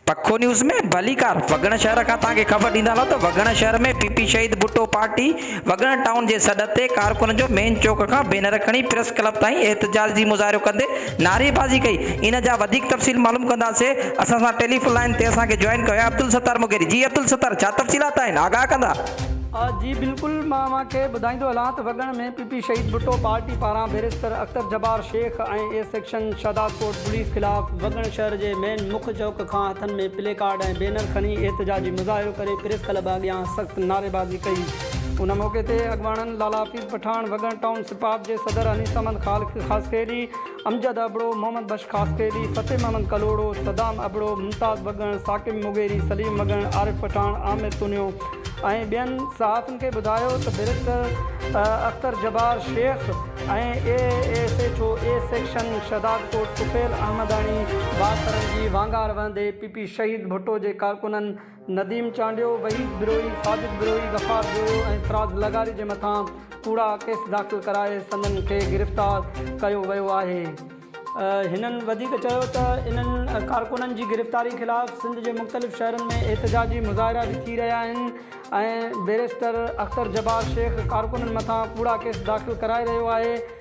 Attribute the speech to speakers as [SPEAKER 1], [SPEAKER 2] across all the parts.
[SPEAKER 1] پکو نيوز ۾ ڀليڪار وڳڻ شهر کان توهان کي خبر ڏيندا هلون ته وڳڻ شهر ۾ P P Shaheed Bhutto party Waggan town جي سڏ تي ڪارڪنن جو مين چوڪ کان بينر کڻي پريس ڪلب تائين احتجاج جي مظاهرو ڪندي نعري بازي ڪئي ان جا وڌيڪ تفصيل معلوم ڪنداسين اسان سان ٽيليفون لائين تي اسان کي جوائن ڪيو آهي عبدالستار مغيري جي عبدالستار ڇا تفصيلات آهن آگاهه ڪندا. جي
[SPEAKER 2] بلڪل مان اوهان کي ٻڌائيندو هلان ته Waggan ۾ P. P P Shaheed Bhutto party پاران barrister Akhtar Jabbar Shaikh ۽ A section Shahdadkot police خلاف وڳڻ شهر جي مين مک چوڪ کان هٿن ۾ پلي ڪارڊ ۽ بينر کڻي احتجاجي مظاهرو ڪري پريس ڪلب اڳيان سخت نعريبازي ڪئي. ان موقعي تي اڳواڻن لالا حفيظ پٺاڻ، وڳڻ ٽائون سپاپ جي صدر انيس احمد خاصخيلي، امجد ابڙو، محمد بخش خاصخيلي، فتح محمد ڪلهوڙو، صدام ابڙو، ممتاز بگهڻ، ثاقب مغيري، سليم مگهڻ، عارف پٺاڻ، عامر تونيو ۽ ٻين صحافين کي ٻڌايو ته barrister Akhtar Jabbar Shaikh ۽ A S H O A section Shahdadkot Tufail Ahmedani بااثرن جي وانگار وهندي پي پي شهيد ڀٽو جي ڪارڪنن نديم چانڊيو، وحيد بروهي، ساجد بروهي، غفار جويو ۽ فراز لغاري جي مٿان ڪوڙا ڪيس داخل ڪرائي سندن کي گرفتار ڪيو ويو آهي. هنن وڌيڪ چيو ته انهن ڪارڪنن جي گرفتاري خلاف سنڌ جي مختلف شهرن ۾ احتجاجي مظاهرا به ٿي رهيا آهن ۽ بيرسٽر اختر جبار شيخ ڪارڪنن مٿان ڪوڙا ڪيس داخل ڪرائي رهيو آهي.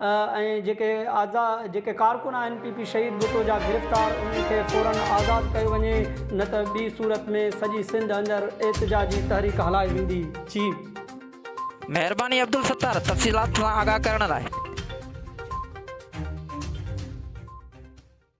[SPEAKER 2] ۽ جيڪي آزا جيڪي ڪارڪن آهن پي پي شهيد ڀٽو جا گرفتار انهن کي فورا آزاد ڪيو وڃي نه ته ٻي صورت ۾ سڄي سنڌ اندر احتجاجي تحريڪ هلائي ويندي
[SPEAKER 1] چي. مهرباني عبدالستار تفصيلات سان آگاهه
[SPEAKER 2] ڪرڻ
[SPEAKER 1] لاء.